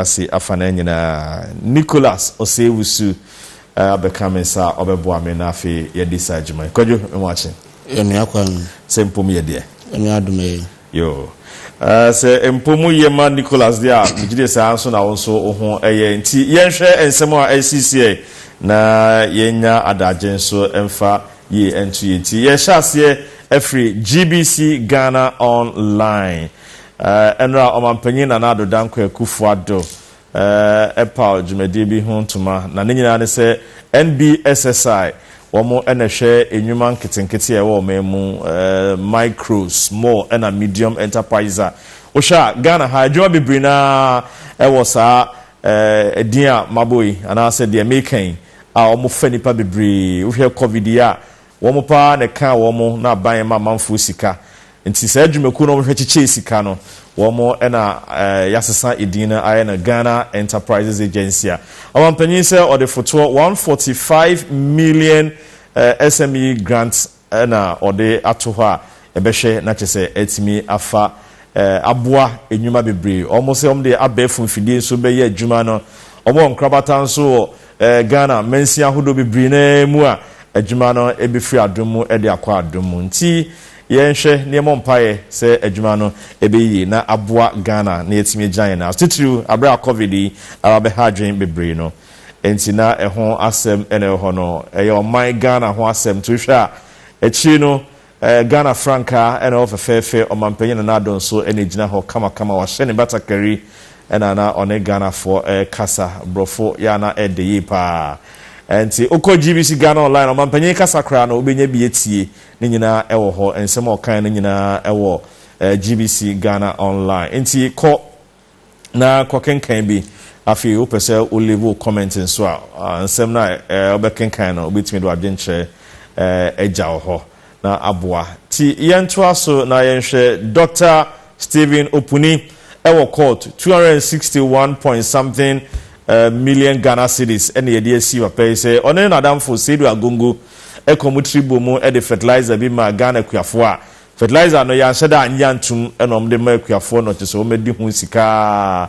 ase afanaa nyinaa. Nicholas Osei-Wusu abɛka me nsa a ɔbɛboa me na afei yɛadi saa dwuma yi. Kwadwo, me ho akye? Yɛnoa kwan. Sɛ mpo moyɛ deɛ? Ɛnyɛ adom ɛ. Yoo. Sɛ mpo moyɛ ma Nicholas deɛ a, megye die saa ara nso na wo nso wo ho yɛ. Nti yɛnhwɛ nsɛm a ɛresisiɛ na yɛnya adagye nso mfa yie nto yɛn ti. Yɛhyɛ aseɛ afiri GBC Ghana Online. Ɛnora Ɔmanpanyin Nana Addo Dankwa Akufo Addo paw dwumadie bi ho ntoma na ne nyinaa ne sɛ NBSSI wɔn na ɛhwɛ nnwuma nketenkete a ɛwɔ ɔman mu, micro, small ɛna medium enterprises a wohwɛ a Ghana ha adwuma bebree no ara wɔ saa din a mabɔ yi anaasɛ deɛ meka yi a wɔfa nnipa bebree, wohwɛ covid yi a. Wɔn pa ara na ɛkaa wɔn na aban ma amanfoɔ sika. Nti saa dwumakuo no a wɔhwɛ kyekyɛ sika no, wɔn na yɛasesa edin no ayɛ no Ghana Enterprises Agency a Ɔmampanyin sɛ ɔde fotoɔ one hundred and forty five million SME grant na ɔde ato hɔ a ɛbɛhwɛ na kyerɛ sɛ atumi afa aboa nnwuma bebree. Wɔn sɛ wɔn de abɛɛfo mfidie nso bɛyɛ adwuma no. Wɔn wɔ nkorabata nso wɔ Ghana mansin ahodoɔ bebree no ara mu a adwuma no bɛfiri adom mu de akɔ adom mu. Nti yɛnhwɛ na yɛmmɔ mpaeɛ sɛ adwuma no bɛyɛ yie na aboa Ghana na yɛatumi agyina yɛn nan so. Titiriw berɛ a Covid yi aba bɛha adwene bebree no nti na ɛho asɛm na ɛwɔ hɔ no. Ɛyɛ ɔman Ghana ho asɛm. Nti wohwɛ a akyiri no Ɛɛ Ghana frankaa na ɛwɔ fɛfɛɛfɛ, ɔmanpanyin Nana Addo nso na egyina hɔ kamakama, wahyɛ ne batakari na na ɔne Ghanafoɔ rekasa. Borɔfo yɛ a na ɛde yie pa ara. Nti wokɔ GBC Ghana Online a, ɔmanpanyin kasa koraa no wobɛnya bi atie, ne nyinaa wɔ hɔ. Nsɛm a ɔkaeɛ no nyinaa wɔ GBC Ghana Online. Nti kɔ na kɔkenkan bi. Afei wopɛ sɛ wo leave wo comment nso a, nsɛm no a wobɛkenkan no, wobɛtumi de w'adwenkyerɛ agya wɔ hɔ na aboa. Nti yɛntoa so na yɛnhwɛ Dɔkta Stephen Opuni wɔ court, two hundred and sixty one point something million Ghana cedis na yɛde asi papa yi sɛ ɔne ne nadamfo Seidu Agongo kɔ mu tiri bɔ mu de fertilizer bi maa Ghana akuafoɔ a Fertilizer no yɛanhyɛ da annye antom na wɔn de ma akuafoɔ no kyerɛ sɛ wɔn adi ho sika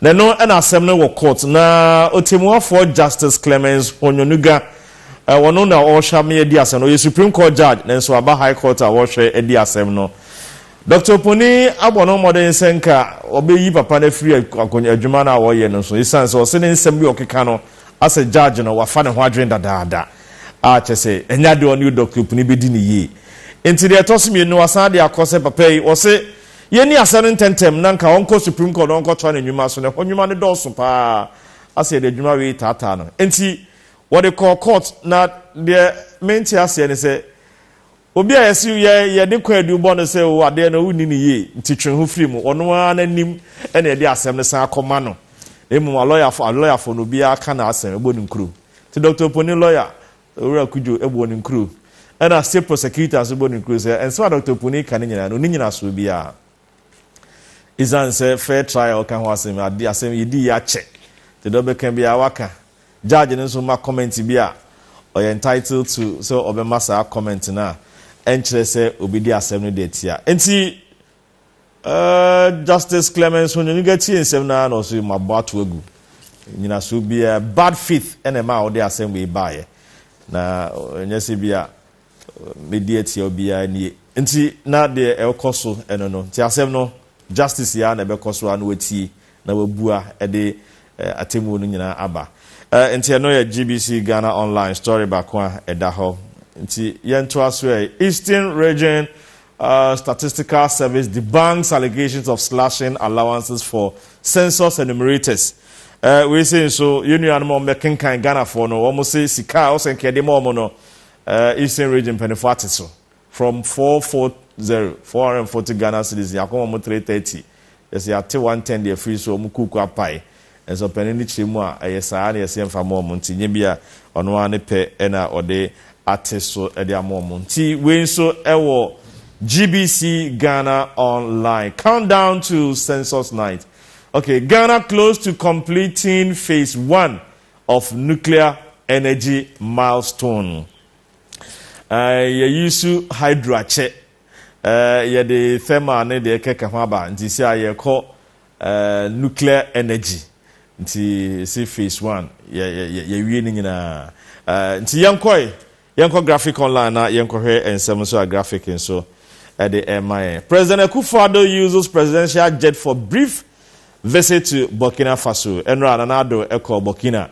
na ɛno na asɛm no wɔ court na ɔtɛmuafoɔ Justice Clemence Honyonuga wɔno na ɔrehwɛ ama yɛadi asɛm no ɔyɛ Supreme Court Judge na nso aba High Court a wɔrehwɛ adi asɛm no Dr. Oponi abɔ no mmɔden sɛ nka wɔbɛyi papa no afiri adwuma no a wɔyɛ no so ɛsiane sɛ ɔse ne nsɛm bi ɔkeka no Asɛ judge no wafa ne ho adwene dadaada a kyɛ sɛ ɛnyɛ adeɛ a ɔne odɔkoepni bɛdi no yie. Nti deɛ ɛtɔ so mmienu no wasan de akɔ sɛ papa yi ɔse yɛnni asɛm no ntɛntɛm na nka ɔnkɔ supreme court na ɔnkɔtoa ne nnwuma so na ɛhɔ nnwuma no dɔɔso pa ara asɛ yɛde adwuma wei taataa no nti wɔde kɔɔ court na deɛ mente aseɛ ne sɛ Obi a yɛse yɛn yɛde kwaadu bɔ no sɛ oo adeɛ no wonni no yie nti twe ho firi mu, ɔno ara n'anim na yɛde asɛm no san akɔma no na mmom alɔyafoɔ alɔyafoɔ no obiara ka n'asɛm bɔ no nkuro. Nti Doctor Oponin lɔya Owura Kudjo bɔ no nkuro ɛna State Prosecutor nso bɔ no nkuro sɛ nsɛm a Doctor Oponin ka no nyinaa no ɔnni nyinasoɔ biara ɛsiane sɛ fair trial ka ho asɛm ade asɛm yɛdiiɛ akyɛ nti deɛ ɔbɛka biara waka Judge no nso ma comment bi a, ɔyɛ entitled to sɛ ɔbɛma saa comment no a ɛnkyerɛ sɛ obi de asɛm no de atia. Enti eh, Justice Clemence Onyonyoga tie nsɛm no ara na ɔse mabɔ ato agu. Nyinasoɔ biara, bad faith na ɛmaa wode asɛm wei baeɛ. Na ɛnyɛ sɛ bi a Mɛdi atia obiara nie. Nti na deɛ ɛrekɔ so no no, nti asɛm no justice yi ara na ɛbɛkɔ so ara na watie na wabua de atemmuo no nyinaa aba. Nti ɛno yɛ GBC Ghana Online story baako a ɛda hɔ. Nti yɛntoa so ɛ. Eastern Region Statistical Service debunks allegations of slashing allowances for census enumerators. Wei sei nso yɛn nuanom a wɔbɛkenkan Ghanafoɔ no, wɔn se sika a ɔsɛ nka yɛde ma wɔn no, Eastern Region mpanyinfoɔ ate so from four four zero, four hundred and forty Ghana cedis yɛ akɔma ɔmo three thirty yɛse yɛate one ten de afiri so ɔmo kuuku apae nso ɔpanin no kyerɛ mu a ɛyɛ saa na yɛse yɛnfa ma ɔmo nti nyɛ bi a ɔno ara ne pɛ na ɔde ate so de ama ɔmo nti wei nso ɛwɔ GBC Ghana online countdown to census night okay Ghana close to completing phase one of nuclear energy milestone. Eh, yɛyi su hydro akyɛ. Eh, yɛde thermal ne deɛ kɛkɛ ho aba. Nti sɛ a yɛkɔ eh, nuclear energy. Nti si phase one. Yɛwie ne nyinaa. Eh, nti yɛnkɔe. Yɛnkɔ Graphic Online na yɛnkɔhwɛ nsɛm nso a Graphic nso de rema yɛn. President Akufo-Addo uses presidential jet for brief visit to Burkina Faso. Ɛnora a Nana Addo kɔɔ Burkina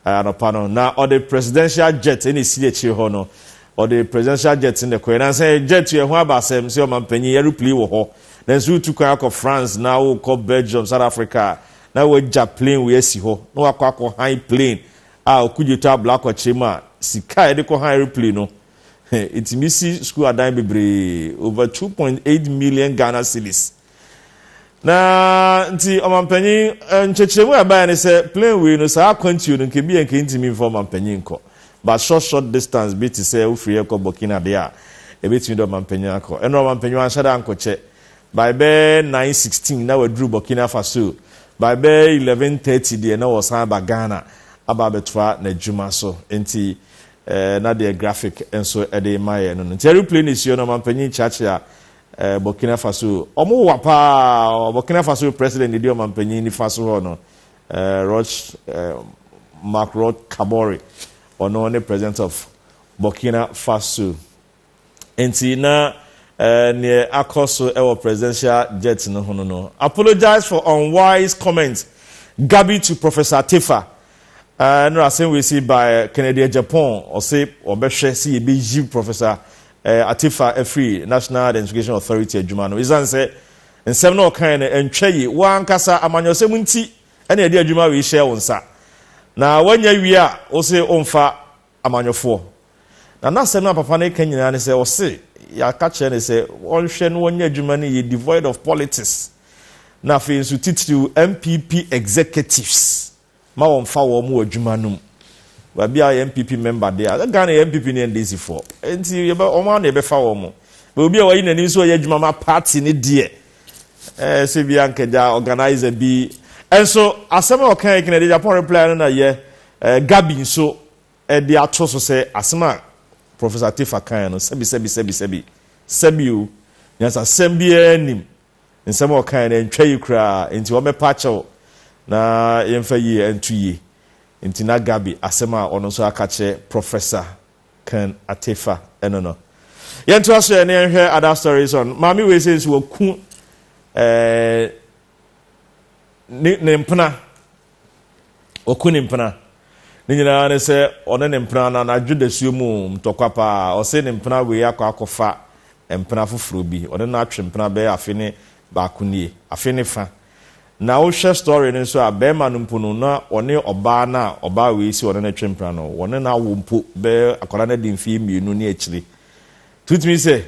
anɔpa no, na ɔde presidential jet na ɛsi akyire hɔ no, ɔde presidential jet na ɛkɔɛ. Nansa yɛ jet yɛ ho aba asɛm sɛ ɔmampanyin aeroplane wɔ hɔ. Nanso wotu kwan akɔ France na wokɔ Belgium, South Africa a, na wagya plane wei asi hɔ na wakɔ akɔ han plane a ɔkogye tɔ abla kɔkyere mu a sika a yɛde kɔha aeroplane no he ɛtumi si sukuu adan bebree over two point eight million Ghana cedis na nti ɔmampanyin eh, nkyɛkyerɛmu a ɛbaeɛ ne sɛ plane wei no saa akwantuo no nkebi yɛ nka ntumi mfa ɔmampanyin nkɔ but short short distance bi te sɛ wofiri yɛ kɔ Burkina deɛ a ɛbɛtumi de ɔmampanyin akɔ ɛnna ɔmampanyin anhyɛ da ankɔkyɛ By bɛyɛ nine sixteen na waduru Burkina Faso. By bɛyɛ eleven thirty deɛ na ɔresan aba Ghana aba abɛtoa n'adwuma so. Nti eh, na deɛ graphic nso de rema yɛn no no. Nti aeroplane esi hɔ na ɔmanpanyin kyeakyea eh, Burkina Faso. Ɔmo wa paa. Burkina Faso president na edi ɔmanpanyin nifa so hɔ no. Eh, Roch eh, Marc Roch Kabore. Ɔno ne president of Burkina Faso. Enti na eh, neɛ akɔ so ɛwɔ presidential jet no ho no no. Apologize for unwise comment Gabi to Professor Tefa. Eh, ɛno asɛm wei si by eh, Kennedy Agyapong ɔse ɔbɛhwɛ sɛ yɛbɛyi Professor eh, Atefa afiri National Identification Authority adwuma no. Ɛsiane sɛ nsɛm na ɔkae no ɛntwa yi, wo ankasa amanyɔsɛm nti ɛna ɛde adwuma wei hyɛ wo nsa. Na woanya wie a, wo se womfa amanyɔfoɔ. Na n'asɛm no a papa no reka nyinaa ne sɛ ɔse yɛaka kyerɛ no sɛ ɔnhwɛ na ɔnyɛ adwuma no yie devoid of politics na afei nso titiriw NPP executives ma wɔmfa wɔn wɔ adwuma no mu. Baabi a yɛ NPP member deɛ a Ghana yɛ NPP ne NDC foɔ nti yɛbɛ wɔn a na yɛbɛfa wɔn mo. Bɛ obi a wayi n'anim sɛ ɔyɛ adwuma ma party no deɛ ɛɛ sɛ bi ankagya organizer bi nso asɛm a ɔka yɛ kena de Japan reply no na yɛ Gabi nso de ato so sɛ asɛm a Professor Teffa kae no, sɛbi, sɛbi, sɛbi, sɛbi, sɛbi o, nyansasɛm biara nnim nsɛm a ɔkae no, ɛntwa yi koraa, enti wɔmmɛpa akyɛ wo na yɛmfa yi nto yi. Enti na Gabi asɛm a ɔno nso aka akyerɛ Professor Ken Ateffa no no. Yɛntoa so ɛ na yɛnhwɛ other stories on maame wei sɛ nso waku ne ne mpena ɔku ne mpena ne nyinaa ne sɛ ɔne ne mpena no anadwo dasuo mu ntɔkwa paa ɔse ne mpena wei akɔ akɔfa mpena foforɔ bi ɔne no atwe mpena bɛyɛ afe ne baako nie afe ne fa na wohwɛ story no nso a bɛrima no mpo no na ɔne ɔbaa no a ɔbaa wei si ɔne no atwe mpena no ɔne no awo mpo bɛyɛ akwadaa no adi mfeɛ mmienu ne akyire tutumi sɛ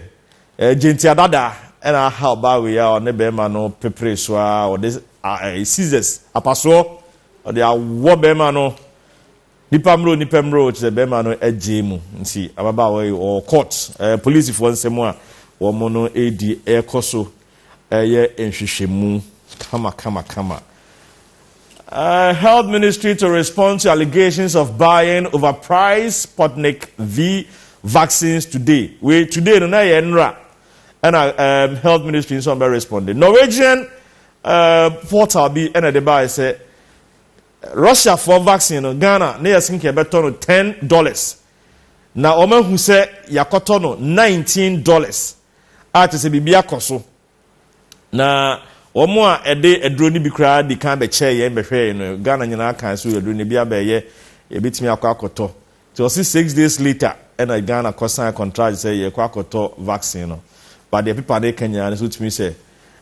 Egye ntiadada na ahaw baa wei a ɔne barima no peperee so ara. Ɔde scissors, apasoɔ, ɔde awɔ barima no. Nipa mmerɛ o, nipa mmerɛ o, kyerɛ barima no agyee mu. Nti ababaawa yi ɔwɔ court. Polisifoɔ nsɛm a wɔn no redi rekɔ so reyɛ nhwehwɛmu kama kama kama. Uh, health ministry to respond to allegations of buying overpriced Sputnik V vaccines today. We today no na yɛ nra ɛna um, health ministry nso bɛ respond. Norwegian uh, portal bi ɛna de baa sɛ Russia for vaccine no Ghana ne yɛ sinka ɛbɛtɔ no ten dollars na wɔn ahu sɛ yakɔtɔ no nineteen dollars a kyerɛ sɛ biribi akɔ so. Na wɔn a ɛde aduro no bi koraa di kan bɛkyɛɛ yɛn bɛhwɛɛ yɛn no, Ghana nyinaa kan so aduro no bi abɛɛyɛ yɛbɛtumi akɔ akɔtɔ. Nti ɔse six days later ɛna Ghana kɔ sign contract sɛ yɛkɔ akɔtɔ vaccine no. But deɛ pepa no ka nyinaa no nso tumi sɛ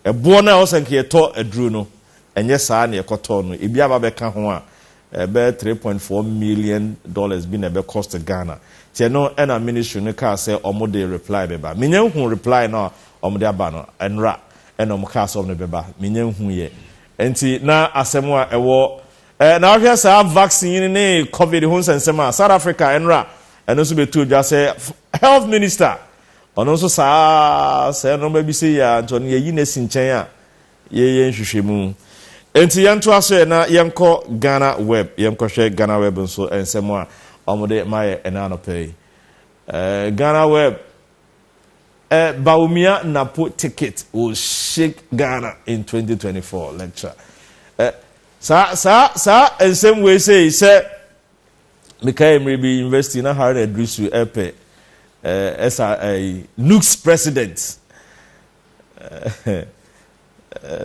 ɛboɔ no a ɛwɔ sɛ nka yɛtɔ aduro no, ɛnyɛ saa na yɛkɔtɔɔ no. Ebi aba abɛka ho a Ɛbɛyɛ three point four million dollars bi na ɛbɛ cost Ghana. Kyɛ no ɛna ministry no kaa sɛ ɔmo de reply bɛba. Me nya nhuu reply no a ɔmo de aba no. Ɛnora ɛna ɔmo kaa sɛ ɔmo de bɛba. Me nya nhuu yɛ. Ɛnti na asɛm a ɛwɔ ɛɛ na wohwɛ saa vaccine ne covid ho nsɛnsɛm a, South Africa ɛnora ɛno nso bɛtoo dwa sɛ health minister ɔno nso saa ara sɛ ɛno bɛbisɛ yi a nti ɔno yɛyi no asi nkyɛn a. Yɛyɛ nhwehwɛmu. Enti yɛntoa so ɛ na yɛnkɔ Ghana Web, yɛnkɔhwɛ Ghana Web nso nsɛm a wɔde ma yɛ ɛnɛ anɔpa yi. Eh, Ghana Web, eh, Bawumia Napo ticket will shake Ghana in 2024 lecture. Eh, saa, saa, saa nsɛm wei sei sɛ mekae mmerɛ bi university na Haruna Idrisu ɛpɛ eh, ɛsa eh, Nukes president.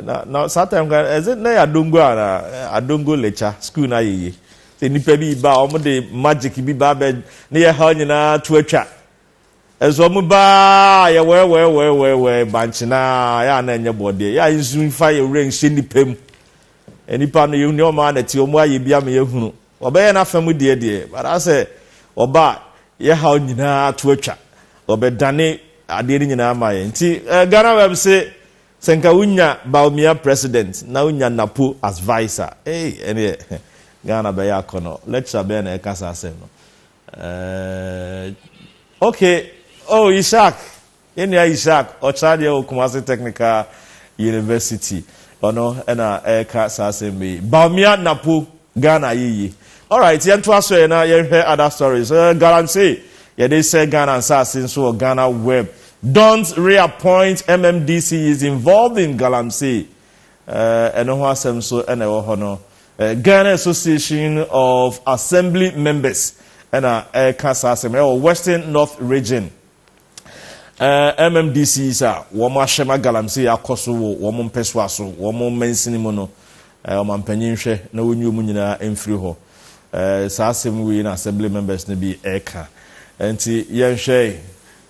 na na saa time kan ɛsɛ na yɛ adongo a na adongo lekya school na yɛ yie sɛ nipa bi ba a wɔn de magic bi ba abɛ ne yɛ ha nyinaa to atwa ɛsɛ wɔn ba a yɛ wɛɛ wɛɛ wɛɛ wɛɛ wɛɛ bankye na yɛ a na ɛnyɛ bɔdeɛ yɛ a nsu nfa yɛ wura nhyɛ nipa mu nipa no yɛ wɔn a na ti wɔn ayɛ bi ama yɛ hunu. Wɔbɛyɛ n'afa mu deɛ deɛ, but asɛ wɔba a, yɛ haw nyinaa ato atwa. Wɔbɛdane adeɛ no nyinaa ama yɛn. Nti eh, GhanaWeb se, sɛ nka wonya Bawumia president na wonya Napo as vice a, ei, ɛneɛ Ghana bɛyɛ akɔnɔ. Lecturer bɛn na ɛka saa asɛm no? Eh, okay, oh, Ishak, Yɛn nua Ishaq Ɔkyerɛadeɛ wɔ Kumasi Technical University, ɔno na ɛreka saa asɛmba yi. Bawumia Napo, Ghana ayɛ yie. Alright, yɛntoa so ɛ na yɛnhwɛ other stories. Uh, Galamsey, yɛde sɛ Ghana nsaase nso wɔ Ghana web. Don't reappoint MMDC is involved in Galamsey. Uh, ɛno ho asɛm nso ɛna ɛwɔ hɔ no. Uh, Ghana Association of Assembly Members ɛna ɛka saa asɛm ɛwɔ Western North Region. Ɛɛ, MMDCs a wɔahyɛ ma galamsey akɔ so wɔ wɔn mpɛsoa so, wɔn mansini mu no, ɛɛ, ɔmampanyin nhwɛ na onyi wɔn nyinaa mfiri hɔ. Ɛɛ, saa asɛm wei na Assembly members no bi reka. Enti yɛnhwɛ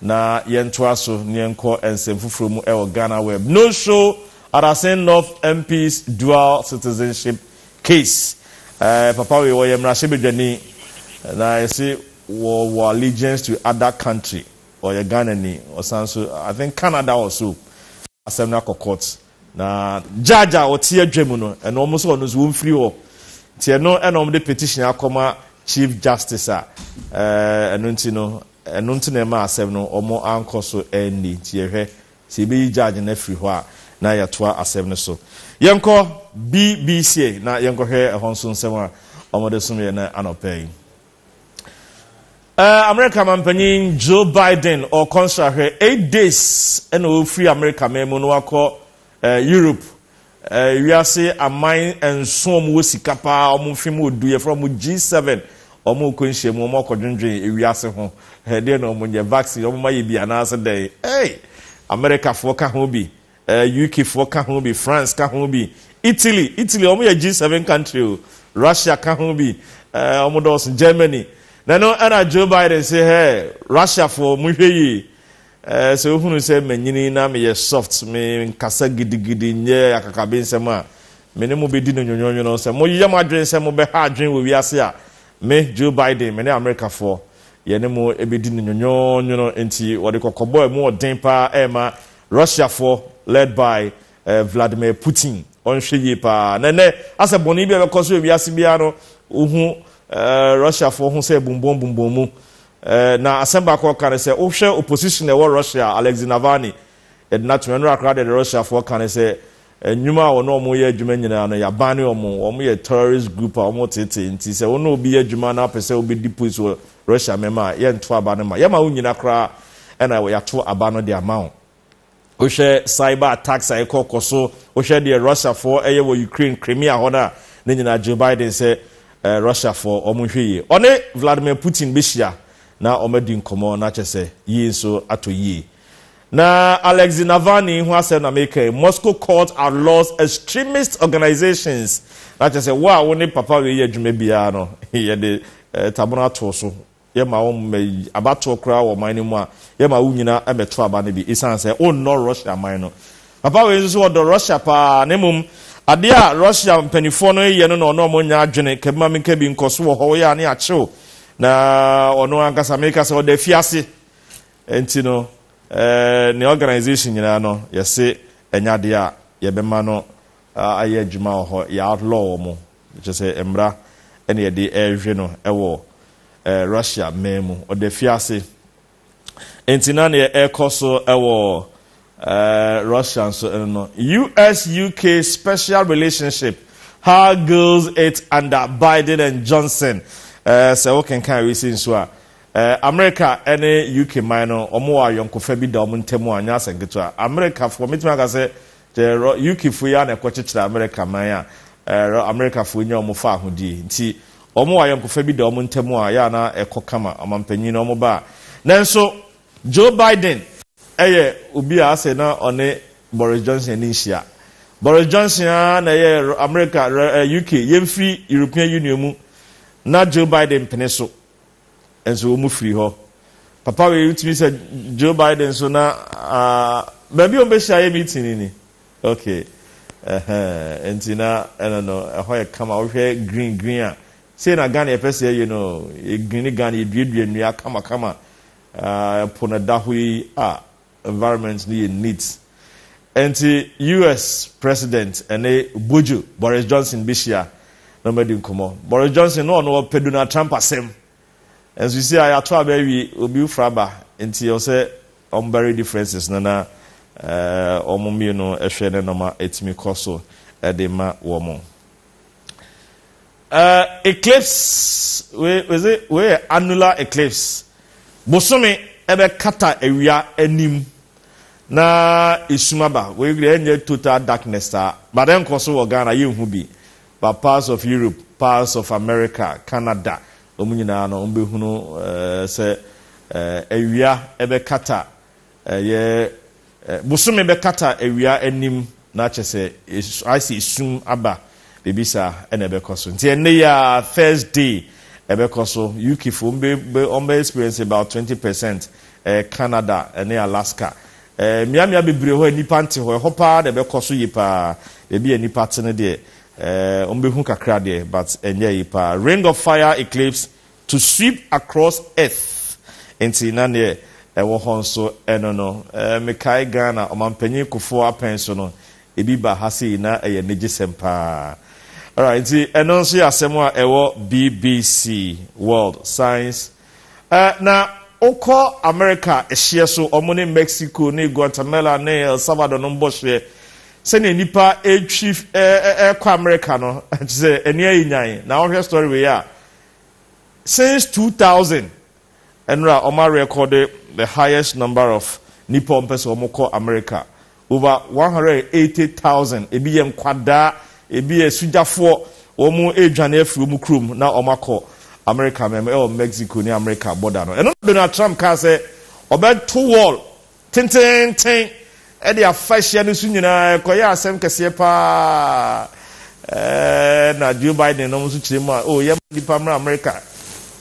na yɛntoa so na yɛnkɔ nsɛm foforɔ mu wɔ GhanaWeb. No show Adasen North MP's dual citizenship case. Ɛɛ, papa wei, ɔyɛ mmarahyɛbadwani na yɛse Wɔwɔ allegiance to other country, ɔyɛ Ghanani, ɔsan nso I think Canada or so, asɛm no akɔ court, na judge a ɔte adwa mu no, ɛno wɔn nso ɔno nso wɔmfiri hɔ, nti ɛno na wɔde petition akɔma Chief Justice a ɛno nti no, ɛno nti na ɛma asɛm no wɔn ankɔ so anni, nti yɛhwɛ sɛ yɛbɛyi judge no afiri hɔ a na yɛatoa asɛm no so. Yɛnkɔ BBCA na yɛnkɔhwɛ ɛhɔ nso nsɛm a wɔde someeɛ no anɔpa yi. Uh, America mampanyin Joe Biden ɔkɔ nsrahwɛ eight days ɛna ɔfiri America man mu no wakɔ uh, Europe uh, wiase aman nson wɔn wɔ sika paa wɔn mfe mu odu yɛfrɛ wɔn G7 wɔn kɔ nhyia mu wɔn akɔ dwendwen wiase ho ɛdeɛ na wɔn nyɛ vaccine wɔn ayɛ bi anaasɛ dɛn ɛy Americafoɔ ka ho bi. Eh UK foɔ ka ho bi, France ka ho bi, Italy, Italy wɔn yɛ G7 country o, Russia ka ho bi, eh wɔn dɔɔso, Germany. Na ɛno ɛna Joe Biden se hɛ, Russia foɔ mo hwɛ yie, eh sɛ wohunu sɛ manyini na meyɛ soft, me nkasa gidigidi, nyɛ akakabensɛm a, me ne mo bɛdi no nwonwonwono. Sɛ moyɛ mo adwene sɛ mobɛha adwene wɔ wiase a, me Joe Biden, me ne Amerika foɔ, yɛne mo bɛdi no nwonwonwono. Enti wɔde kɔkɔbɔ a ɛmu ɔden paa ɛrema Russiafoɔ led by eh, Vladimir Putin ɔnhwɛ yie paa na ɛnɛ asɛ bɔne bi a ɛbɛkɔ so ewiase biara no wohu eh, Russiafoɔ ho sɛ ɛbumbɔn bumbɔn mu eh, na asɛm baako a ɔka ne sɛ wohwɛ opposition a ɛwɔ Russia Alexei Navalny yɛde no ato ɛno akora deɛ de Russiafoɔ ka ne sɛ Nnwuma a wɔne wɔn yɛ adwuma nyinaa no, yɛabane wɔn. Wɔyɛ terrorist group a wɔteetee nti, sɛ wo ne obi yɛ adwuma na wopɛ sɛ wobɛdi post wɔ Russia mɛma a, yɛnto aba no mma. Yɛma wonnyina koraa na yɛato aba no de ama wo. Wohwɛ cyber attacks a ɛkɔ kɔ so, wohwɛ deɛ Russiafoɔ yɛ wɔ Ukraine, Crimea hɔ no a, ne nyinaa Joe Biden sɛ Russiafoɔ wɔnhwɛ yie. Ɔne Vladimir Putin bɛhyia na wɔadi nkɔmmɔ na kyerɛ sɛ yei nso atɔ yie. Na Alexei Navalny ho asɛm na meka yi, Moscow court outlaws extremist organisations, na kyerɛ sɛ wo a wo ne papa wei yɛ adwuma biara no, yɛde tamono ato wo so, yɛma wo mma yi abatoɔ koraa wɔ ɔman no mu a, yɛma wo nyina mmɛto aba no bi, ɛsiane sɛ wonnɔ Russia man no. Papa wei nso ɔdɔ Russia paa, na mmom adeɛ a Russia mpaninfoɔ no yɛ no na ɔno ɔmo nyɛ adwene, ka bi ma menka bi, nkɔso wɔ hɔ, woyɛ a ne akye wo, na ɔno ankasa meka sɛ ɔda afiase, Enti no, ne organisation nyinaa no, yɛse ɛnyɛ adeɛ a yɛbɛma no ayɛ adwuma wɔ hɔ. Yɛ outlaw wɔn. Kyerɛ sɛ mmara na yɛde rehwe no wɔ Russia man mu. Ɔda fiase. Enti na deɛ ɛrekɔ so wɔ Russia nso no no, US-UK special relationship, how goes it under Biden and Johnson? Sɛ wokenkan recent nso a, Amerika ne UK man no, wɔwɔ ayɔnkofa bi da wɔn ntam a, ɛnyɛ asɛm ketewa. Amerikafoɔ, mɛtumi aka sɛ, gyɛ UKfoɔ yi ara na ɛkɔkyekyerɛ Amerika man a Amerikafoɔ yi nya wɔn faahodie. Nti, wɔwɔ ayɔnkofa bi da wɔn ntam a, ɛyɛ a na ɛkɔ kama. Ɔmanpanin no, wɔba a. Nanso, Joe Biden yɛ obi a ase na ɔne Boris Johnson ani nhyia. Boris Johnson ara na ɛyɛ Amerika, UK, yɛmfiri European Union mu na Joe Biden mpene so. nso wɔn firi hɔ. Papa wei wotumi sɛ Joe Biden nso na baabi a wɔbɛhyia yɛ meeting ni. Okay. Ɛhɛn nti na ɛno no ɛhɔ yɛ kama wohwɛ green green a sei na Ghana yɛpɛ sɛ yɛyɛ no yɛ green Ghana yɛduadua nnua kamakama ɛpo no da hɔ yi a environment no yɛ neat. Ɛnti US president ɛne Bojo, Boris Johnson bɛhyia na wɔn adi nkɔmɔ. Boris Johnson na ɔno ɔpɛ Donald Trump asɛm. Ɛnso sisi a yɛato aba awie, obi fra aba, nti ɛwɔ sɛ wɔn bury differences no na wɔn mmienu ɛhwɛ ne nɔma ɛtumi kɔ so ɛde ma wɔn. Uh, eclipse wei is it wei yɛ annular eclipse bosome ɛbɛkata awia anim na esum aba wei deɛ ɛnyɛ total darkness taa but ɛnkɔ so wɔ Ghana yɛnhu bi but parts of Europe parts of America Canada wɔn nyinaa no wɔn bɛhunu ɛɛ eh, sɛ ɛɛ eh, awia ɛbɛkata Ɛyɛ bosome bɛkata awia anim na kyɛ sɛ ayɛ sɛ esum aba biribi saa ɛna ɛbɛkɔ so nti ɛnɛ yi a Thursday ɛbɛkɔ so UK fo wɔn bɛ wɔn bɛ experience about twenty percent ɛɛ Canada ɛne Alaska ɛɛ mmeammea bebree hɔ a nnipa nte hɔ ɛhɔ paa na ɛbɛkɔ so yie paa baabi a nnipa te no deɛ ɛɛ wɔn bɛhu kakra deɛ but ɛnyɛ yie paa Ring of Fire eclipse To sweep across earth nti na neɛ ɛwɔ hɔ nso ɛno no. Mekae Ghana Ɔmanpanyin Kufuor apɛn so no, ebi ba ha sei na ɛyɛ anigyesɛm paa. Alright, nti ɛno nso yɛ asɛm a ɛwɔ BBC World Science. Eh, na wokɔ Amerika ɛhyeɛ so, wɔn ne Mexico ne Guatemala ne El Salvador no mbɔ hyeɛ, sɛdeɛ nnipa ɛretwi ɛrekɔ Amerika no, kyerɛ sɛ ani ayɛ nyan. Na wohwɛ story wei a, since two thousand ɛnora wɔn a rekɔde the highest number of nipa wɔn pɛ sɛ wɔn kɔ america over one hundred and eighty thousand ebi yɛ nkwadaa ebi yɛ sugyafoɔ wɔn redwane afiri wɔn kurom na wɔn akɔ america mɛm ɛwɔ mexico ne america border no ɛno na donald trump kaa sɛ ɔbɛto wall tenteenten de afa hyia no so nyinaa, ɛkɔyɛɛ asɛm kɛseɛ pa ara. Ɛna Joe Biden nom nso kyerɛ mu a, oh, yɛmma nnipa mmra Amerika.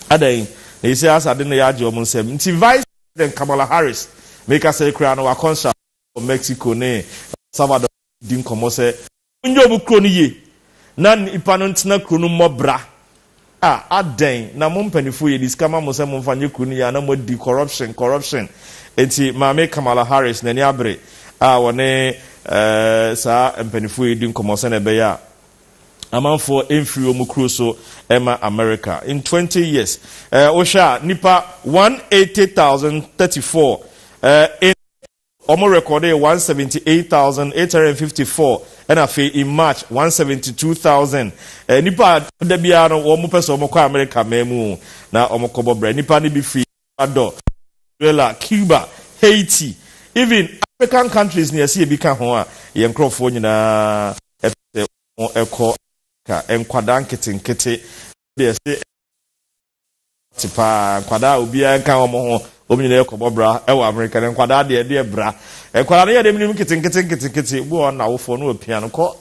Adɛn? Na ɛsɛ asa de no yɛagye wɔn nsam. Nti Vice President Kamala Harris, mekasa yi koraa no, wakɔ nsrahwɛ wɔ Mexico ne El Salvador di nkɔmmɔ sɛ Monyɛ mo kuro no yie na nnipa no ntena kuro no mmɔ bra. Ah adɛn na mo mpaninfoɔ yɛde sika ma mo sɛ momfa nyɛ kuro no yie a na moadi corruption corruption nti maame Kamala Harris n'ani abere a ɔne saa mpaninfoɔ yi di nkɔmmɔ sɛnea ɛbɛyɛ a amanfoɔ mfiri wɔn kuro so ma America in 20 years wohwɛ a nnipa 180,034 in Wɔn rekɔdee 178854 na afei in March 172000 nnipa a da biara no wɔn pɛ sɛ wɔn kɔ Amerika man mu na wɔn kɔbɔ bra. Nnipa no bi firi Ecuador, Venezuela, Cuba, Haiti, even African countries na yɛse yɛbi ka ho a yɛn nkorɔfoɔ nyinaa pɛ sɛ wɔn kɔ Amerika. Nkwadaa nketenkete deɛ yɛse. Te paa. Nkwadaa a obiara nka wɔn ho, wɔn nyinaa yɛ kɔbɔ bra wɔ Amerika. Na nkwadaa deɛ, ɛdeɛ bra. Nkwadaa no yɛ deɛ menim nketenkete nketenkete. Obi wɔ hɔ no, n'awofoɔ no apia no kɔ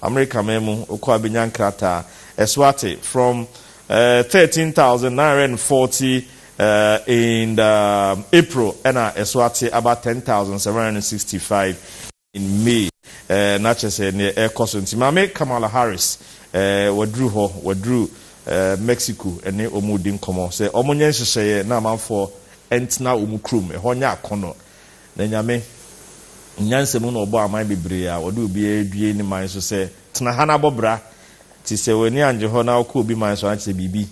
Amerika man mu. Ɔkɔ a, bɛnya nkrataa. Ɛso ate. From eh, 13,940 eh, in the April, ɛna ɛso ate aba 10,765. in May eh, na kyerɛ sɛ neɛ ɛrekɔ so nti maame Kamala Harris eh, waduru hɔ, waduru eh, Mexico ɛne wɔn redi nkɔmmɔ sɛ wɔn nyɛ nhyehyɛeɛ na amanfoɔ ntena wɔn kurom ɛhɔ nyɛ akɔnnɔ na nyame nyansa mu na ɔbɔ aman bebree a ɔde obiara adue ne man so sɛ tena ha na bɔ bra nti sɛ w'ani angye hɔ na wokɔ obi man so ankyɛ sɛ biribi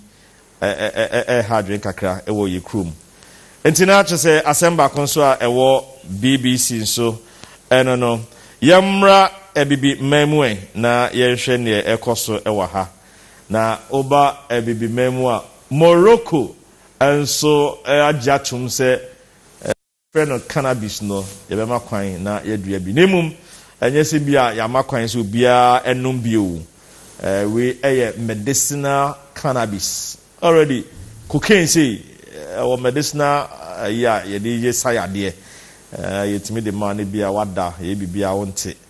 ɛreha adwene kakra wɔ yɛn kurom. Enti na kyerɛ sɛ asɛm baako nso a ɛwɔ BBC nso ɛno no, yɛmmra Abibi man mu ɛ na yɛnhwɛ neɛ ɛrekɔ so wɔ ha. Na woba Abibi man mu a, Morocco nso agye atom sɛ, frɛ no cannabis no, yɛbɛma kwan na yɛadua bi, na mmom ɛnyɛ sɛ bi a yɛama kwan sɛ obiara nnom bi o. Wei yɛ medicinal cannabis. Already, cocaine sei, ɛwɔ medicinal ayi a yɛde yɛ sa yadeɛ, yɛtumi de ma no bi a woada, yɛyɛ biribiara wonte.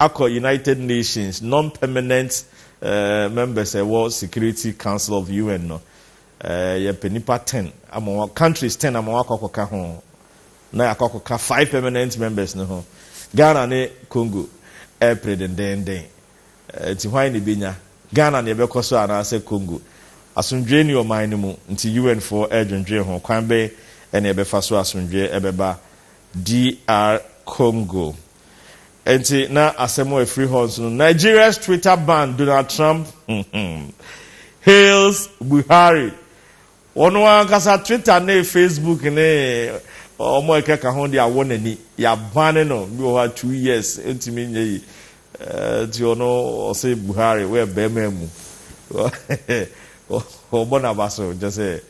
akɔ United Nations non-permanent members a ɛwɔ Security Council of UN no, yɛpɛ nnipa ten ama wɔn, countries ten ama wɔn akɔ akɔka ho, na yɛakɔ akɔka five permanent members no ho. Ghana ne Congo ɛrepere dendeenden, nti hwan na ebenya? Ghana na yɛbɛkɔ so anaasɛ Congo? Asomdwoe nni ɔman no mu, nti UN foɔ redwendwen ho, kwan bɛn na yɛbɛfa so asomdwoe bɛba DR Congo? Enti na asɛm a ɛfiri hɔ nso no, Nigeria's Twitter ban Donald Trump hails Buhari. Wɔn ankasa Twitter ne Facebook ne wɔn a ɛkeka ho de awɔ n'ani. Yɛabane no bi wɔ hɔ a two years ntumi nyɛ yi. Nti ɔno ɔse Buhari woyɛ bɛrima mu. Wɔbɔ n'aba so kyɛ sɛ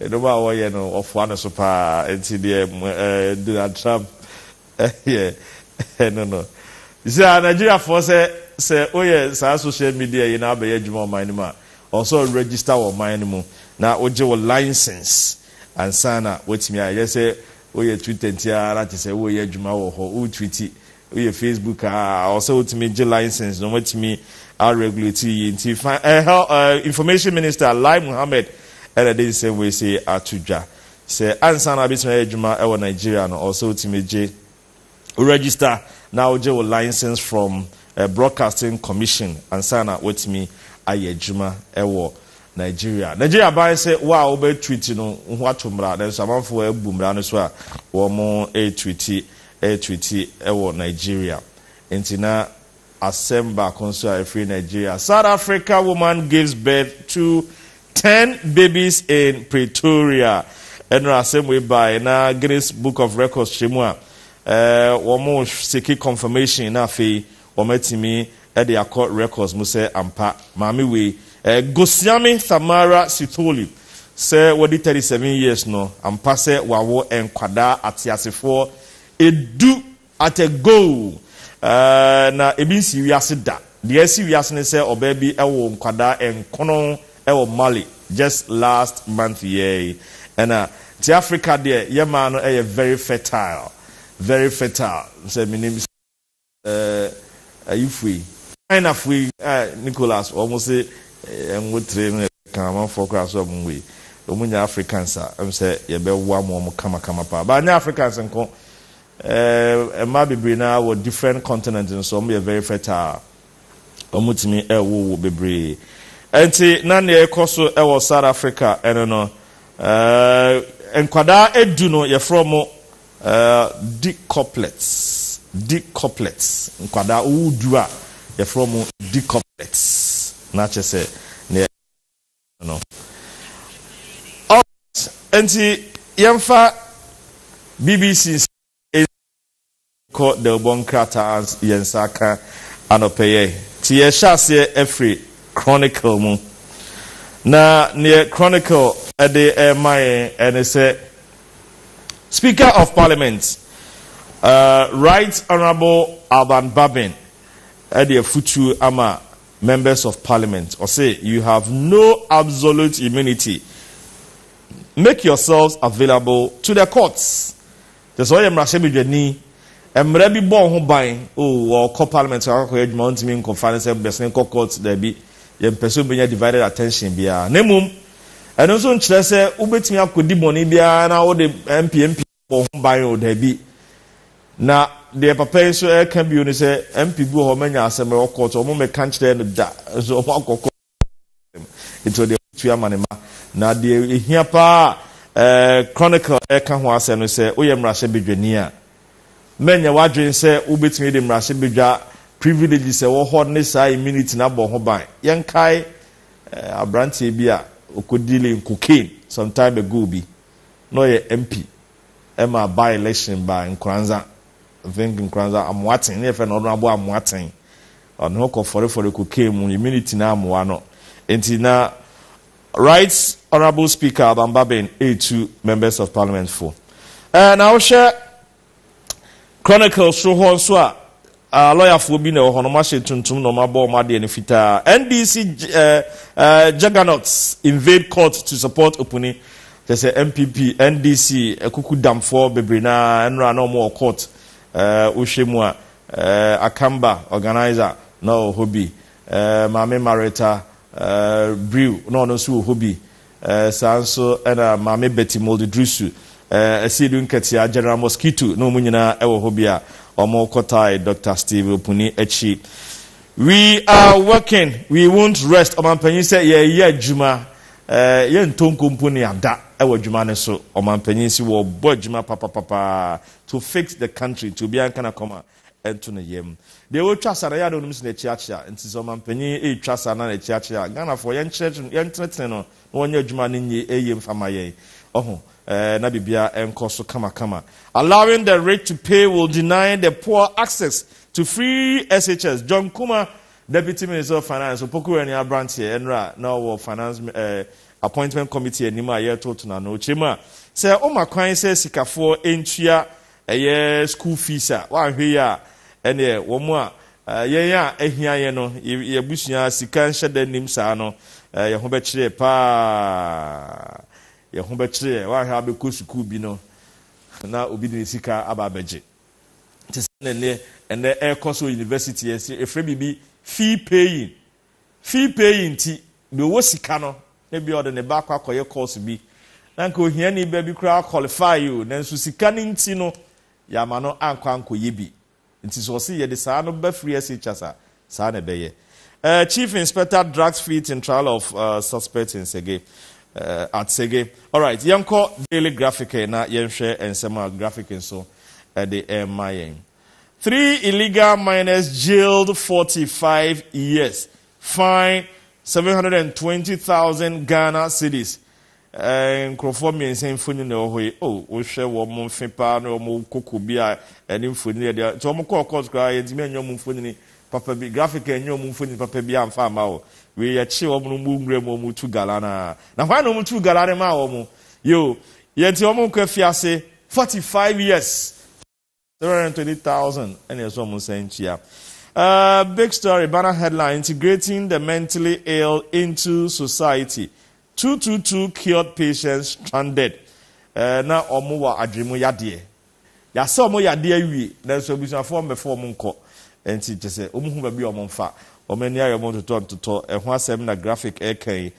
nneɛma a wɔyɛ no wɔfoa no so paa. Nti deɛ Donald Trump Ɛyɛ ɛno no. Sɛ a Nigeriafoɔ sɛ sɛ woyɛ saa social media yi na abɛyɛ adwuma ɔman no mu a, ɔwɔ sɛ wo register wɔ ɔman no mu na wogye wo license ansa na woatumi ayɛ. Ɛnyɛ sɛ woyɛ Twitter nti ara te sɛ woreyɛ adwuma wɔ hɔ, wo tweeti, woyɛ Facebook a, ɔwɔ sɛ wotumi gye license na wɔatumi a regulate yi. Nti fa ɛhɛ ɛ Information Minister Lai Mohammed na ɛde nsɛm wei sei ato dwa. Sɛ ansa na wobɛtumi ayɛ adwuma wɔ Nigeria no, ɔwɔ sɛ wotumi gye, wo register na wogye wo license from Broadcasting Commission ansa na woatumi ayɛ adwuma wɔ Nigeria. Nigeria ban sɛ wo a wobɛ tweet no, woato mmara, nanso amanfoɔ abu mmara no so a wɔretweet, retweet wɔ Nigeria. Enti na Asɛm baako nso a ɛfiri Nigeria, South Africa woman gives birth to ten babies in Pretoria. Ɛnora asɛm wei bae na Guinness Book of Records hyɛ mu a, wɔn seki confirmation na afei wɔn atumi de akɔ records mu sɛ ampa maame wei, Gosiame Thamara Sithole, sɛ wadi 37 years no, ampa sɛ wawo nkwadaa ateasefoɔ edu. At a go! Ɛɛ, na ebi nsii wiase da. Deɛ asi wiase ne sɛ ɔbaa bi woo nkwadaa nkron wɔ Mali just last month yɛɛ yi. Ɛna nti Africa deɛ yɛ mmaa no yɛ very fertile, very fertile. Sɛ menim sɛ ɛɛ ayifo yi, Chinafo yi, ɛɛ Nicholas wɔn se ɛngo tire no ɛka amanfoɔ koraa so a wɔn wei, wɔn nyɛ Africans a ɛm sɛ yɛbɛwam wɔn kamakama paa. But anyɛ Africans nko, Mmaa bebree no ara wɔ different continent no so, wɔyɛ very fertile, wɔtumi wowo bebree. Ɛnti na nea ɛkɔ so wɔ South Africa ɛno no, nkwadaa ɛdu no yɛfrɛ wɔn decuplets, decuplets, nkwadaa wowo du a yɛfrɛ wɔn decuplets, na kyɛ sɛ nea no. Alright, enti yɛmfa BBC nsɛm yi nsi nkɔ Delbɔ nkrataa yɛn nsa aka anɔpɛ yɛ. Nti yɛhyɛ aseɛ afiri Chronicle mu. Na neɛ Chronicle de rema yɛn ne sɛ Speaker of Parliament, uh, Right Honourable Alban Babbing de afutuo ama members of parliament ɔse you have no absolute immunity make yourselves available to the courts kyɛ sɛ ɔyɛ mmarahyɛbadwani mmara bi bɔ ho ban o ɔkɔ parliament akɔkɔyɛ adwuma ɔntumi nkɔfa ne sɛ bɛsene kɔ court daabi yɛmpɛ sɛ wobɛnya divided attention biara na mmom ɛno nso nkyerɛ sɛ wobɛtumi akɔdi bɔne biara na wode mp mp bɔ ho ban o, daabi. Na deɛ papa yi nso ɛreka bio ne sɛ MP bi wɔ hɔ manya asɛm ɛwɔ court wɔn mmɛka nkyerɛɛ no da nso wɔn akɔ court nti ɔde ɛho tua ma ne ma na deɛ ehia paa ɛɛ Chronicle ɛreka ho asɛm no sɛ woyɛ mmarahyɛbadwani a mɛnyɛ w'adwene sɛ wobɛtumi de mmarahyɛbadwa privileges ɛwɔ hɔ ne saa immunity no abɔ ho ban yɛnkae ɛɛ aberanteɛ bi a ɔkɔdili cocaine some time ago bi na ɔyɛ MP ma by election ba Nkoranza, I think Nkoranza, Amoatsen, ne yɛfrɛ no Honourable Amoatsen. Ɔno ho kɔfɔrefɔre kɔkaa mu, immunity no ammoa no. Nti na Right Honourable Speaker Abang Babin retu Members of Parliament fo. Ɛɛ na wohwɛ Chronicle soro hɔ nso a, ah, lɔyafoɔ bi na ɛwɔ hɔ no, wɔahyɛ tuntum na wɔabɔ wɔn adeɛ no fitaa. NDC eh, eh, juggernauts invade court to support Opuni. Kyɛ sɛ NPP, NDC, akuku damfoɔ bebree no ara nnora na wɔwɔ court. Eh, wohwɛ mu a, eh, Akamba organizer na ɔwɔ hɔ bi. Eh, Maame Marita eh, Brew na ɔno nso wɔ hɔ bi. Saa nso na Maame Betty Moldedrusu, Asiedu Nketiah, General Mosquito ne wɔn nyinaa wɔ hɔ bi a wɔkɔtae Dɔkta Steve Opuni akyi. We are working, we won't rest, Ɔmampanyin sɛ yɛreyɛ adwuma, yɛntɔ nko mpo ne ada wɔ adwuma no so. Ɔmampanyin se wɔrebɔ adwuma papapapaa to fix the country nti obiara nka n'akoma. ɛnto ne yam. Deɛ ɔtwa saa no, ɛyɛ a na ɔnim sɛ n'akyiakyia, nti sɛ ɔmanpanin retwa saa na n'akyiakyia a, Ghanafoɔ yɛnkyerɛkyerɛ, yɛntenetene no na ɔnyɛ adwuma a no nyɛ yie mfa mma yɛn. Ɔho, eh, na biribiara nkɔ so kamakama. Allowing the rich to pay will deny the poor access to free SHS, John Kumah, Deputy Minister of Finance, Opoku Wanya aberanteɛ, ɛnora na ɔwɔ Finance eh, Appointment Committee anim a yɛretoto n'ano. Ɔkyerɛ mu a, sɛ ɔma kwan sɛ sikafoɔ ntua Ɛyɛ school fees a woanhwɛ yie a ɛneɛ wɔn a yɛn a ahia yɛn no yɛn abusua sika nhyɛ da nnim saa no yɛn ho bɛkyere yɛn paa yɛn ho bɛkyere yɛn woanhwɛ a wobɛkɔ sukuu bi no na obi de ne sika aba abɛgye te sɛ ɛnɛ ɛnɛ ɛrekɔ so university ɛfrɛ biribi fee paying Fee pɛ yi nti, deɛ ɔwɔ sika no, na ebia ɔde ne ba akɔ akɔyɛ course bi, na anka ohiani ba bi koraa qualify o, nanso sika no nti no, yɛamma no ankɔ ankɔyɛ bi. Nti sɛ ɔse yɛde saa no ba firi SHS a, saa na ɛbɛyɛ. Eh, Chief Inspector Drugs Fleet in Trial of eh, Suspect in Sege, eh, at Sege. Alright, yɛnkɔ Daily Graphic eh, na yɛnhwɛ nsɛm a Graphic nso ɛde ɛrema yɛn. Three illegal miners jailed forty five years, fine seven hundred and twenty thousand Ghana cedis. Eh, nkurɔfoɔ mmiɛnsa mfoni na ɛwɔ hɔ yi. Oh, wohwɛ wɔn mfe paa ne wɔn koko bi a ɛne mfoni yɛ deɛ. Nti wɔn kɔɔ court koraa yɛntumi anyɛ wɔn mfonini papa bi. Graphic anyɛ wɔn mfonini papa bi amfa ama wɔ. Wei yɛkye wɔn no mu nwura mu wɔn tu gala no a. Na hwan na wɔn tu gala no maa wɔn? Yo, yɛnti wɔn nkɔ afiase forty five years. Three hundred and twenty thousand ɛna ɛsɛ wɔn nsa ntua. Uh, big story banner headline integrating the mentally ill into society two two two cured patients stranded uh, na wɔn wɔ adwene yadeɛ yasɛ wɔn yadeɛ awie nanso abusuafoɔ mmɛfo wɔn nkɔ nti kyɛ sɛ wɔn hu baabi a wɔn nfa wɔn ani ayɛ wɔn ntotɔ ntotɔ ɛho asɛm na graphic ɛka yi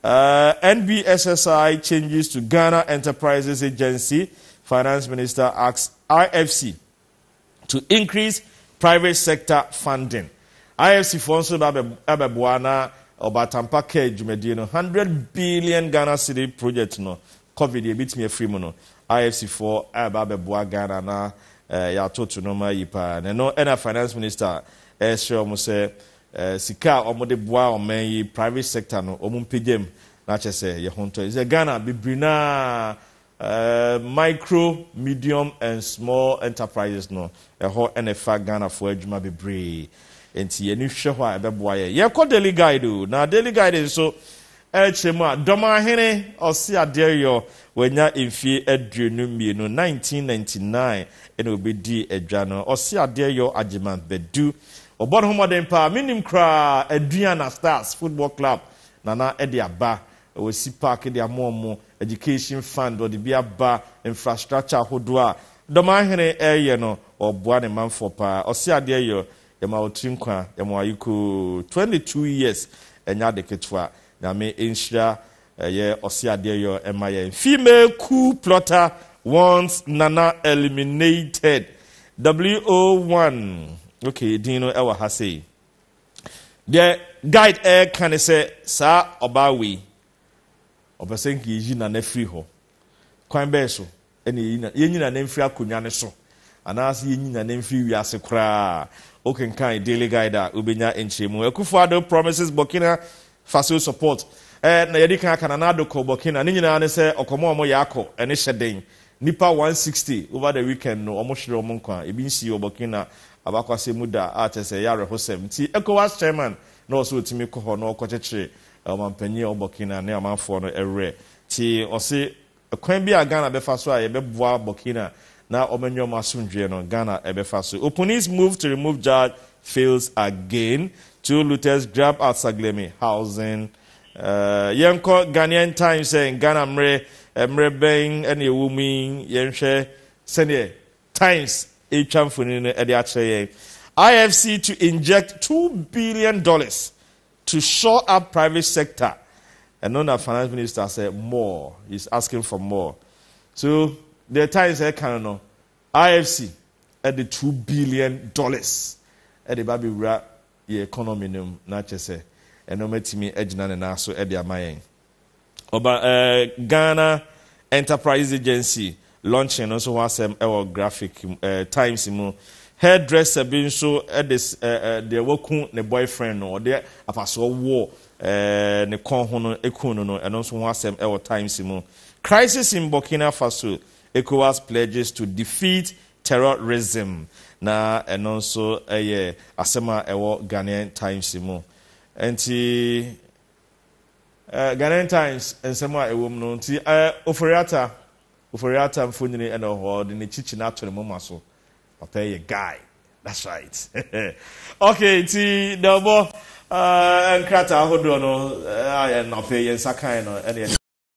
Uh, NBSSI changes to Ghana Enterprises Agency, Finance Minister asks IFC to increase private sector funding. IFC foɔ nso ba abɛboa na ɔbatampa kaa dwumadie no 100 billion Ghana city project no covid yɛbɛtumi afiri mu no IFC foɔ ɛba abɛboa Ghana na eh, yɛatoto no ma yi paa na ɛno ɛna finance minister ɛsrɛ wɔn sɛ Eh sika a ɔmo de boa ɔman yi private sector no ɔmo mpagya mu na kyɛ sɛ yɛ ho ntɔ sɛ Ghana bebre no a eh micro medium and small enterprises no ɛhɔ na ɛfa Ghana foɔ adwuma bebree nti yɛni hwɛ hɔ a ɛbɛboa yɛ yɛkɔ daily guide o na daily guide nso Ɛrekyerɛ mu a, Dɔmahene Osei Adeoyo, wanya mfie aduonu mmienu, 1999 na obedii adwa no. Osei Adeoyo Agyemang Badu, wɔbɔ ne ho mmɔden paa. Menim koraa Aduana Stars Football Club na na ɛde aba. Wɔasi park de ama wɔn, education fund wɔde bi aba, infrastructure ahodoɔ a Dɔmahene reyɛ no, ɔreboa ne manfoɔ paa. Osei Adeoyo Yɛma wo tiri nkwa yɛma wo ayekoo twenty two years ɛnyɛ ade ketewa nyame nhyira ɛyɛ ɔse adeɛ yɔ ɛma yɛn female cool plotter once nana eliminated wo one ok din no ɛwɔ ha sei deɛ guide ɛɛka ne sɛ saa ɔbaa wei ɔpɛ sɛ nka yɛyi nana firi hɔ kwan bɛɛ so Ɛnna yɛnyi yɛnyi no anan firi akonnwa no so, anaasɛ yɛnyi no anan firi wiase koraa a, wokenkan Daily Guide a, wobɛnya nkyerɛmu. Akufo-Addo promises Burkina Faso support. Eh, na yɛadi kan aka Nana Addo kɔɔ Burkina. Ne nyinaa ne sɛ ɔkɔm a wɔyɛ akɔ no hyɛ den. Nnipa 160 over the weekend no, wɔhwere wɔn nkwa. Ebi nsii wɔ Burkina abakɔsɛm mu da, a kyerɛ sɛ ɛyɛ awerɛhosɛm. Nti Ecowas chairman na ɔwɔ sɛ ɔtumi kɔ hɔ na ɔkɔkyekyere ɔmampanyin a ɔwɔ Burkina ne amanfoɔ no werɛ. Nti ɔse Kwan bi a Ghana bɛfa so a yɛbɛboa Burkina na wɔanya wɔn asomdwoeɛ no, Ghana bɛfa so. Opunis move to remove judge fails again, two looters grab at Saglemi housing. Yɛnkɔ Ghanaian Times sɛ Ghana mmerɛ, mmerɛ bɛn na yɛwɔ mu yi, yɛnhwɛ sɛdeɛ Times retwa mfonini no de akyerɛ yɛn. IFC to inject two billion dollars To shore up private sector ɛno na finance minister sɛ more is asking for more so deɛ times ɛka no no ifc ɛde two billion dollars ɛde ba bɛwura yɛ economy no mu na kyɛ sɛ ɛno matumi agyina ne nan so ɛde ama yɛn Ɔba eh, Ghana Enterprises Agency launching no nso ho asɛm wɔ graphic eh, Times mu. Hairdresser bi nso de eh, eh, deɛ waku ne boyfriend no, ɔde apasoɔ wɔ eh, ne kɔn ho no ku no no, ɛno nso ho asɛm wɔ Times mu. Crisis in Burkina Faso, ECOWAS pledges to defeat terrorism. Na ɛno nso yɛ asɛm a ɛwɔ Ghanaian Times mu. Nti Eh, Ghanaian Times nsɛm a ɛwom no nti eh, Ofori-Atta, Ofori-Atta mfonini na ɔhɔ, ɔde ne kyikyina ato ne moma so. Ɔtaa yɛ guy. That's right. okay, nti na ɔbɔ eh, nkrataa ahodoɔ no eh, a yɛn afei yɛn nsa kan no ɛne